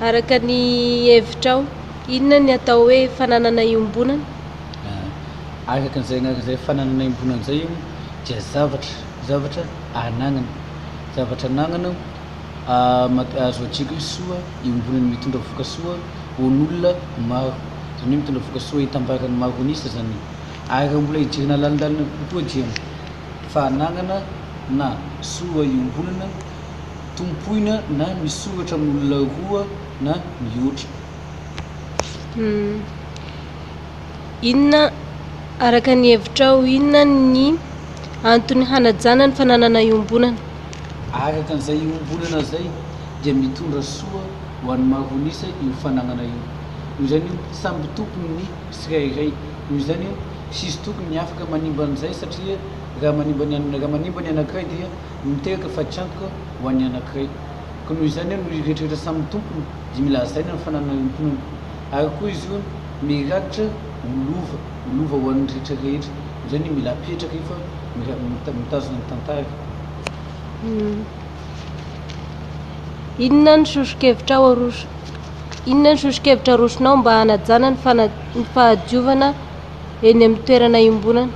Araka ny hevitrao, inona ny atao hoe fananana iombonana? Ah, araka an'izay, araka izay fananana iombonana izay io dia zavatra, zavatra anagnana, zavatra anagnana ah, mat- azo adika hoe soa iombonana mitondra vokasoa ho an'olona maro, izany hoe mitondra vokasoa hitambaran'ny maro an'isa izany. Ary raha mbola hijerena lalindalinana kokoa dia fa anagnana na soa iombonana, tompoina na misoratra amin'olona roa na mihoatra. Inona, araka ny hevitrao, inona ny antony hanajana ny fananana iombonana? Araka an'izay iombonana izay dia mitondra soa ho an'ny maron'isa io fananana io. Noho izany io samby tompony ny tsirairay. Noho izany io tsisy tokony afaka manimba an'izay satria raha manimba ny anankiray dia. no mitehaka fatiantoka ho an'ny anankiray. Koa noho izany aho no hiretrretra samy ny tompony dia mila hazaina ny fananana iombonana. Ary koa izy io mirakitra ho lova, ho lova ho an'ny rehetra rehetra. Izany hoe mila apetraka io fa mitazona ny tantara. Inona ny sosokevitra arosonao mba hanajana ny fahadiovana? eny amin'ny toerana iombonana.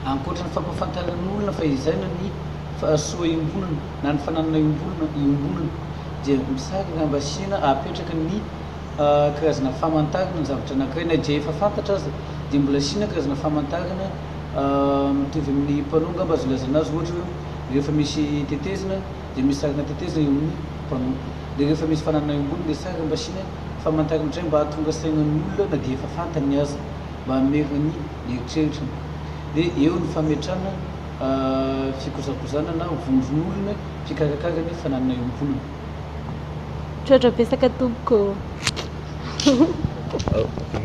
Ankoatra ny fampahafantarana olona fa izany ny fahasoa iombonana na ny fananana iombonana iombonana dia misaraka raha mba asiana apetraka ny karazana famantarana ny zavatra anankiray na dia efa fantatra aza dia mbola asiana karazana famantarana mitovy amin'ny panneau angamba azo ilazana azy ohatra hoe rehefa misy tetezina dia misy sarina teteza eo amin'ny mpanompo. Dia rehefa misy fananana eo ambony ilay sary mba asiana famantarana indray mba hahatonga sainan'ny olona na dia efa fantany aza mba hamerina ny eritreritrany. Dia eo ny fametrana fikojakojana na vondron'olona mpikarakara ny fananana eo am-ponao. Misaotra betsaka tompoko.